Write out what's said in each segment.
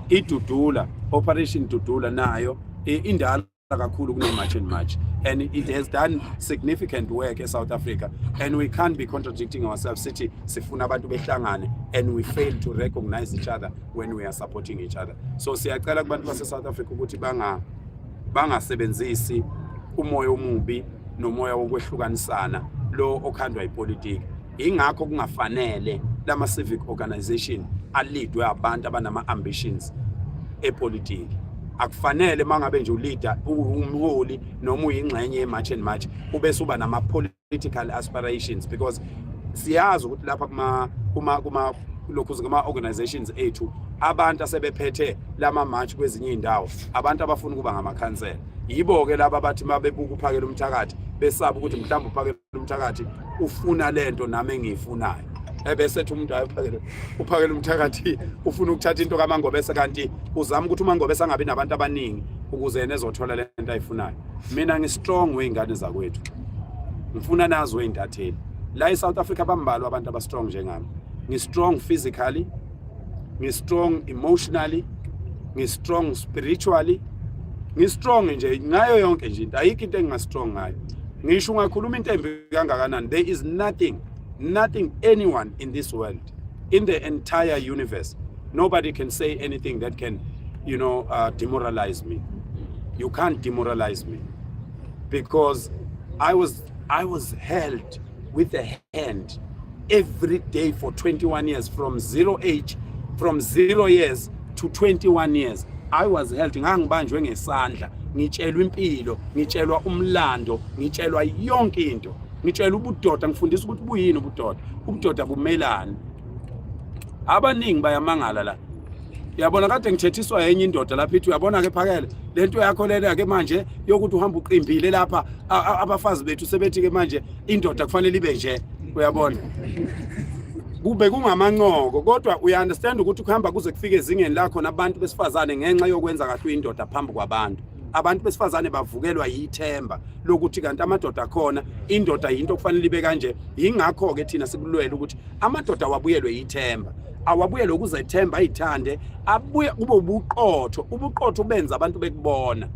idudula operation dudula nayo indala kakhulu kune-march and march and it has done significant work e-south africa and we can't be contradicting ourselves sithi sifuna abantu behlangane and we fail to recognize each other when we are supporting each other so siyacela kubantu base-south africa ukuthi banga bangasebenzisi umoya omubi nomoya wokwehlukanisana lo okhandwa ipolitiki ingakho kungafanele lama civic organization alidwe abantu abanama ambitions epolitiki akufanele mangabe nje uleader umholi noma uyingxenye ye march and march ube suba nama political aspirations because siyazi ukuthi lapha kuma kuma kuma lokhu kuma organizations ethu abantu asebephethe lama march kwezinye indawo abantu abafuna ukuba ngamakhansela yibo ke laba bathi mabebuka uphakela umthakathi besaba ukuthi mhlawumbe uphakela umthakathi ufuna lento nami engiyifunayo ebese ethi umuntu ayophakela uphakela umthakathi ufuna ukuthatha into kamangobese kanti uzama ukuthi umangobese angabi nabantu abaningi ukuze yena ezothola le nto ayifunayo mina ngi-strong wey'ngane zakwethu ngifuna nazi wey'ntatheli la e-south africa bambalwa abantu aba-strong njengami ngi-strong physically ngi-strong emotionally ngi-strong spiritually ngi-strong nje ngayo yonke nje into ayikho into enginga-strong ngayo ngisho ungakhuluma into embi kangakanani there is nothing nothing anyone in this world in the entire universe nobody can say anything that can you know uh, demoralize me you can't demoralize me because i was i was held with a hand every day for 21 years from zero age from zero years to 21 years i was held ngangibanjwe ngesandla ngitshelwa impilo ngitshelwa umlando ngitshelwa yonke into ngitshelwa ubudoda ngifundisa ukuthi buyini ubudoda ubudoda bumelani abaningi bayamangala la Uyabona kade ngithethiswa yenye indoda lapha ithi uyabona ke phakele lento yakho lena ke manje yokuthi uhamba uqimbile lapha abafazi bethu sebethi ke manje indoda kufanele ibe nje uyabona kube kungamancoko kodwa uya understand ukuthi ukuhamba kuze kufike ezingeni lakho nabantu besifazane ngenxa yokwenza kahle uyindoda phambi kwabantu abantu besifazane bavukelwa yithemba lokuthi kanti amadoda akhona indoda yinto okufanele ibe kanje yingakho ke thina sikulwela ukuthi amadoda awabuyelwe yithemba awabuyelwe ukuzethemba ayithande abuye kube ubuqotho ubuqotho ubenza abantu bekubona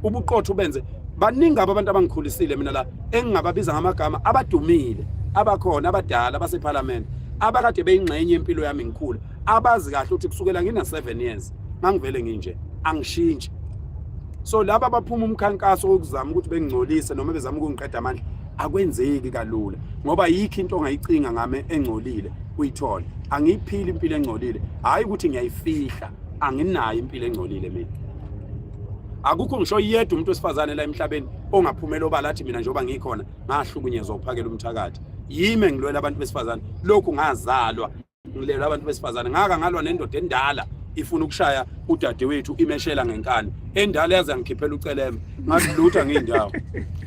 ubuqotho ubenze baningi abantu abangikhulisile mina la engingababiza ngamagama abadumile abakhona abadala basephalamende abakade beyingxenye yempilo yami ngikhula abazi kahle ukuthi kusukela ngina 7 years ngangivele nginje angishintshi so laba baphuma umkhankaso wokuzama ukuthi bengingcolise noma bezama ukungiqeda amandla akwenzeki kalula ngoba yikho into ongayicinga ngame engcolile uyithole angiyiphili impilo engcolile hayi ukuthi ngiyayifihla anginayo impilo engcolile mina akukho ngisho yedwa umuntu wesifazane la emhlabeni ongaphumela obala athi mina njengoba ngikhona ngahlukunyezwa uphakela umthakathi yime ngilwela abantu besifazane lokhu ngazalwa ngilelwa abantu besifazane ngaka ngalwa nendoda endala ifuna ukushaya udadewethu imeshela ngenkani endala yaze ngikhiphela uceleme ngathi lutho angiyindawo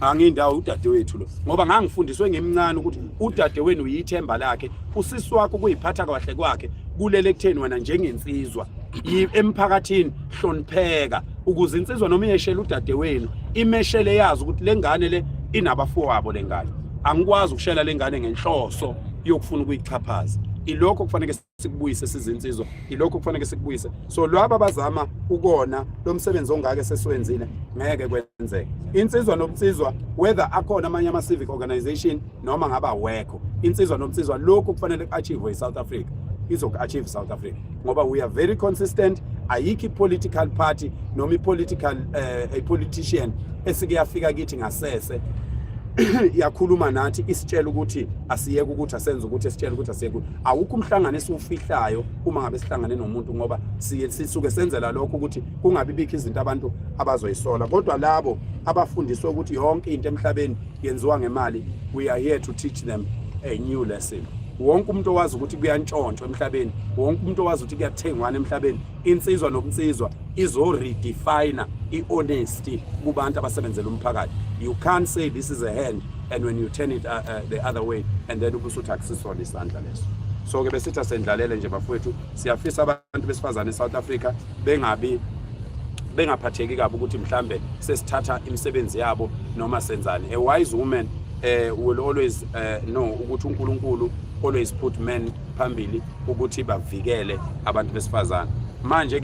angiyindawo udadewethu lo ngoba ngangifundiswe ngimncane ukuthi udadewenu uyithemba lakhe usisi wakho kuyiphatha kahle kwakhe kulele kutheni wena njengensizwa emphakathini hlonipheka ukuze insizwa noma iyeshela udadewenu imeshele yazi ukuthi le ngane le inabafowabo le ngane angikwazi ukushela le ngane ngenhloso yokufuna ukuyichaphaza ilokho kufanele sikubuyise sizinsizwa ilokho kufanele sikubuyise so lwaba bazama ukona lo msebenzi ongake sesiwenzile ngeke kwenzeke insizwa nobunsizwa whether akhona amanye ama-civic organization noma ngabe awekho insizwa nomsizwa lokhu kufanele ku-achieve i-south africa izoku-achieve south africa ngoba we are very consistent ayikho i-political party noma i-political uh, i-politician esike yafika kithi ngasese yakhuluma nathi isitshela ukuthi asiyeke ukuthi asenze ukuthi esitshela ukuthi asiyeke ukuthi awukho umhlangano esiwufihlayo uma ngabe sihlangane nomuntu ngoba siye sisuke senzela lokho ukuthi kungabi bikho izinto abantu abazoyisola kodwa labo abafundiswe ukuthi yonke into emhlabeni yenziwa ngemali we are here to teach them a new lesson wonke umuntu owazi ukuthi kuyantshontshwa emhlabeni wonke umuntu owazi ukuthi kuyathengwana emhlabeni insizwa nobunsizwa izoredefina i-honesty kubantu abasebenzela umphakathi you can't say this is a hand and when you turn it uh, uh, the other way and then ubusuthi akusisona isandla leso so-ke besithi asendlalele nje bafowethu siyafisa abantu besifazane e-south africa bengabi bengaphatheki kabi ukuthi mhlambe sesithatha imisebenzi yabo noma senzani a wise woman uh, will always uh, know ukuthi uNkulunkulu always put men phambili ukuthi bavikele abantu besifazana manje